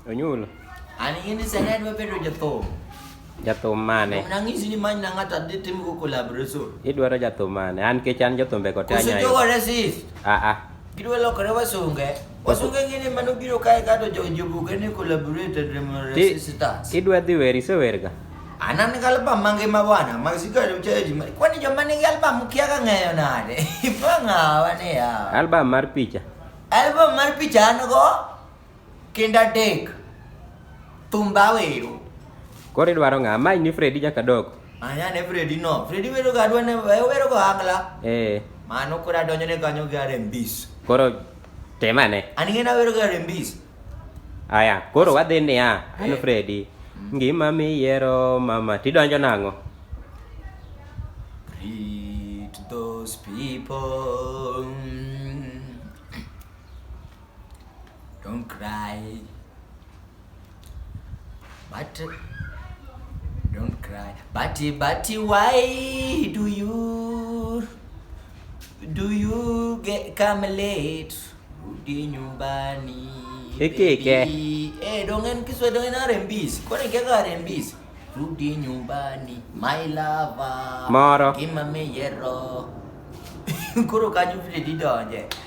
Onyulo. An in is an adwa bedo jathum. Jathum mane? Nang'isi ni many na ng'ato adhi tim go collaboration. Idwaro jathum mane? An kech an jothumbe go te Koso anyayo. jogo resist. Ah ah. Gidwa lokore wasunge. Wasunge ng'ini mano biro kae kato jo jobuge ni collaborated remo Ti- resistance. Idwa dhi wer isewerga. Anan nigi album mangima bwana, mag sigari ucheji. Kwani joma nigi album ukiaga ng'eyo nade? Ipang'awa ni ya. Album mar picha. Album mar picha an go. Kinda dek. Thumba wero. Koro idwaro ng'a? Mae ni Fredi nyaka dok. Anya ne Fredi no. Fredi wero ga adwa ne wero go angla. Eh. Mano koro adonjo ne kanyo gi arembis. Koro temane. An ing'e nawero ga arembis. Aya, koro wadhi niya, an Eh. Fredi. Ngima miyiero mama, tidonjo nang'o? Greet those people. Don't cry. But don't cry. But but why do you do you get come late? Rudi nyumbani. Hiki ke. Eh, dongen kiswa dongen RMBs. Kwani kaka RMBs? Rudi nyumbani. My lover. Mara. Kimame yero. Kuro kanyu vile didonje.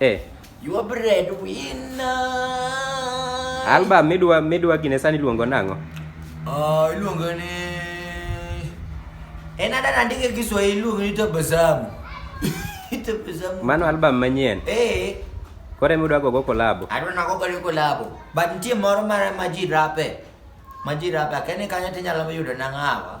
Eh. You are bread winner. Album midwa midwa gine sani luongo nang'o? Oh, iluongo ni En ada nandike Kiswahili iluongo ni Tabasamu. Tabasamu. Mano album manyien. Eh. Kore midwa gogo kolabo. Adwa nago gogo kolabo. But nitie moro mara ma ji rape. Ma ji rape. Akene kanyo tinyalo yudo nang'awa.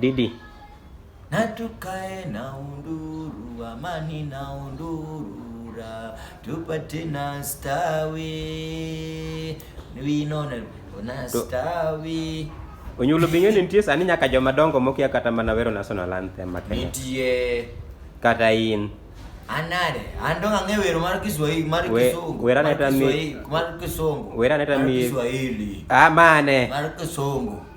Didi. Na tukae na unduru, amani na unduru, ra, tupate na stawi. We know na stawi. Onyulo binyo ni nitie sani nyaka joma dongo mokia kata mana wero national anthem ma Kenya. Nitie. Kata in. Anare, ando ng'e wero mar Kiswahili, mar Kisungu. Wera neta mi mar Kisungu. Wera neta mi Kiswahili. Ah mane. Mar Kisungu.